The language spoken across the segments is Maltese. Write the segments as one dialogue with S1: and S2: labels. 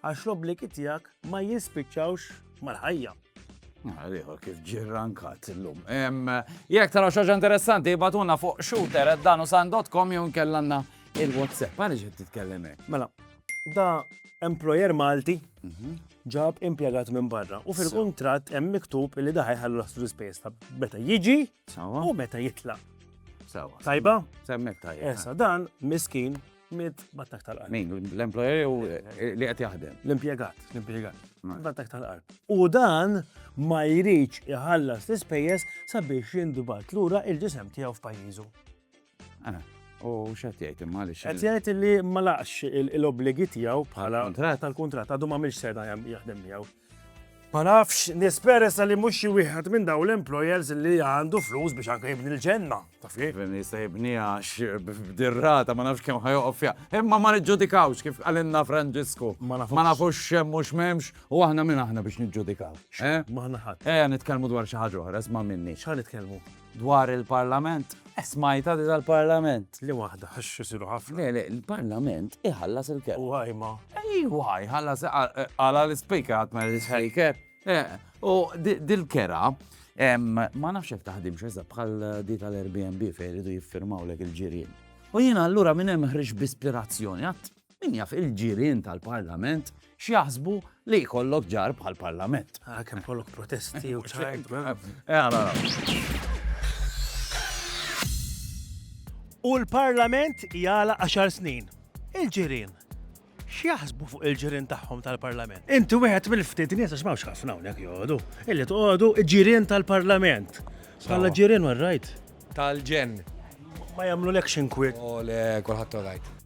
S1: Għax l-obbligi tiegħek ma jispiċċawx mal-ħajja. Għaliħor
S2: kif ġirrankat l-lum. Jek tara xaġa interessanti, batuna fuq shooter at danusan.com jun kellanna il-WhatsApp. Għalli ġed titkellem Mela, da
S1: employer Malti mhm. ġab impiegat minn barra u fil-kontrat hemm miktub li daħi ħallu l-astru space ta' meta jiġi u meta jitla. Tajba? Semmek tajba.
S2: Esa, dan
S1: miskin Mit battak tal-qalb. Min, l-employer u eh,
S2: li qed jaħdem. L-impjegat, l-impjegat.
S1: Battak tal-qalb. U dan ma jridx iħallas l-ispejjeż sabiex jindubat lura il-ġisem tiegħu f'pajjiżu.
S2: Eh, u x'qed jgħid imma li Qed jgħid li ma
S1: laqx il-obbligi tiegħu bħala tal-kuntratt għadu ma mhix seda jaħdem miegħu. Ma nafx, nisperesa li mhux xi wieħed minn dawn l-employers li għandu flus biex anke jibni l-ġenna, taf kif? Jifhem li jista' jibniha għax
S2: b'dir-rata ma nafx kemm ħa joqgħod fiha. Imma ma niġġudikawx kif qalilna Franġisku. Ma nafux. Ma nafux x'hemm u x'm'hemmx u aħna min aħna biex niġġudikaw, eh? M'aħna ħadd.
S1: Ejja nitkellmu dwar xi ħaġa
S2: oħra, isma' minni. X'ħa nitkellmu?
S1: Dwar
S2: il-Parlament? Eh, smajtha di tal-Parlament. Li waħda, għax
S1: isiru ħafna. Le, le, il-Parlament
S2: iħallas il-kelb. U għajma. Ejwa,
S1: jħallas
S2: għala l-ispejka għat ma l-ispejker. Eh, u dil-kera, ma nafx jek taħdim xezza bħal di tal-Airbnb fej rridu jiffirmaw lek il-ġirien. U jina allura minn hemm ħriġ b'ispirazzjoni, għat Min jaf il-ġirien tal-Parlament x'jaħsbu li jkollok ġar bħall-Parlament. Ah, kemm kollok
S1: protesti u ċajt. U l-Parlament jala 10 snin. Il-ġirien. X'jaħsbu fuq il-ġirien tagħhom tal-Parlament? Inti wieħed mill-ftit nies għax m'hawnx ħafna hawnhekk joqogħdu. Illi toqogħdu ġirien tal-Parlament. Bħala ġirien warrajt. Tal-ġen.
S3: Ma
S1: jagħmlu l-action quit. U le kulħadd
S3: orajt.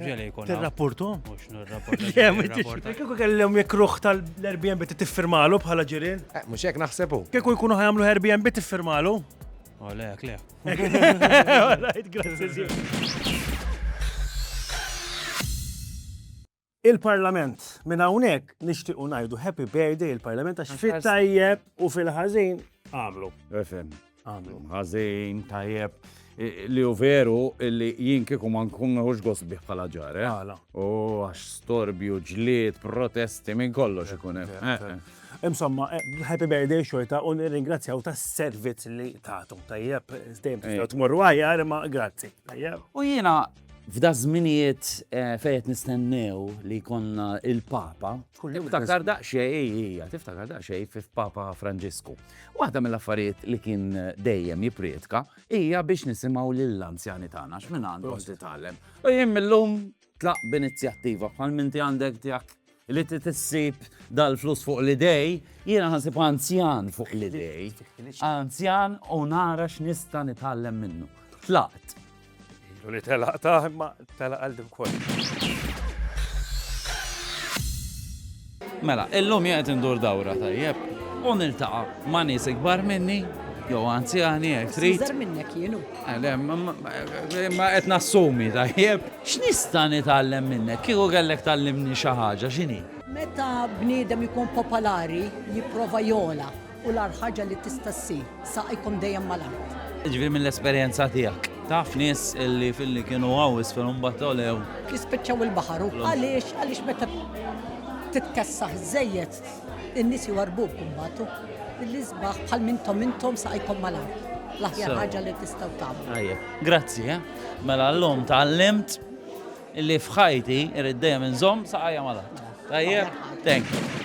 S4: Ġeli jkun. Tirrapportu? Mux nirrapportu. Kieku kellhom jekk
S1: ruħ tal-Airbnb tiffirmalu bħala ġirien? Eh, mux jekk naħsebu.
S3: Kieku jkunu ħajamlu Airbnb
S1: tiffirmalu? Oh,
S4: le,
S1: le. Il-Parlament, minn hawnhekk nixtiequ ngħidu happy birthday il-Parlament għax fit-tajjeb u fil-ħażin għamlu. Għamlu. Għazin,
S2: tajjeb. Li u veru li jien kieku ma nkun nħux gosbih bħala ġare. Eh? Għala. U għax storbju, ġlied, protesti minn kollox ikun hemm. Eh, eh. Insomma,
S1: happy birthday xorta u nirringrazzjaw ta' servizz li tagħtu. Tajjeb, dejjem tistgħu tmorru għajja, ma grazzi. Tajjeb. U jiena
S2: f'da żminijiet fejn nistennew li konna il-Papa. Tiftakar daqsxejn, tiftakar daqsxejn f'Papa Franġisku. Waħda mill-affarijiet li kien dejjem jiprietka hija biex nisimgħu lill-anzjani tagħna x'minn għandhom titgħallem. U jien millum tlaq b'inizjattiva bħal minti għandek tiegħek li tissib dal-flus fuq l-idej, jiena ħansib anzjan fuq l-idej, anzjan u nara x'nista' nitgħallem minnu. Tlaqt Ilu li
S1: telaq ta' imma telaq għal din kol.
S2: Mela, illum jgħet indur dawra tajjeb. U niltaqa ma' nies ikbar minni, jew anzjani jgħid trid. Iżgħar minnek jienu. Ma qed nassumi tajjeb. X'nista' nitgħallem minnek? Kieku kellek tallimni xi ħaġa x'inhi? Meta
S5: bniedem ikun popolari, jipprova jola. U l-agħar ħaġa li tista' ssir, saqajkom dejjem mal-art. Jiġifieri mill-esperjenza
S2: tiegħek, taf nies li filli kienu hawn isfel u mbagħad għolew? Jispiċċaw
S5: il-baħar u għaliex? Għaliex meta titkessaħ żejjed in-nies jwarrbuk imbagħad u l-isbaħ bħal mintom intom saqajkom mal-art. L-aħjar ħaġa li tistgħu tagħmlu. Tajjeb, grazzi, eh?
S2: Mela llum tgħallimt Li f'ħajti irrid dejjem inżomm saqajja mal-art. Tajjeb? Thank you.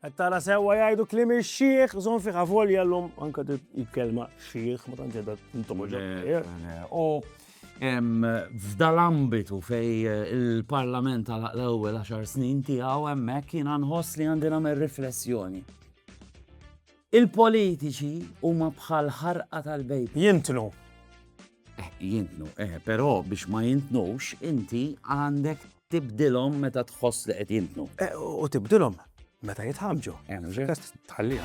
S1: Qed tara sewwa jgħidu kliem ix-xiħ, żomm fih avolja llum anke il-kelma xiħ ma tantx qiegħda tintomoġa. U
S2: f'dal-ambitu fej il-Parlament għalaq l-ewwel għaxar snin tiegħu hemmhekk jiena nħoss li għandi nagħmel riflessjoni. Il-politiċi huma bħal ħarqa tal-bejb. Jintnu.
S1: Eh,
S2: jintnu, eh, però biex ma jintnux, inti għandek tibdilhom meta tħoss li qed jintnu. Eh, u tibdilhom
S1: meta jitħamġu.
S2: Tħallija.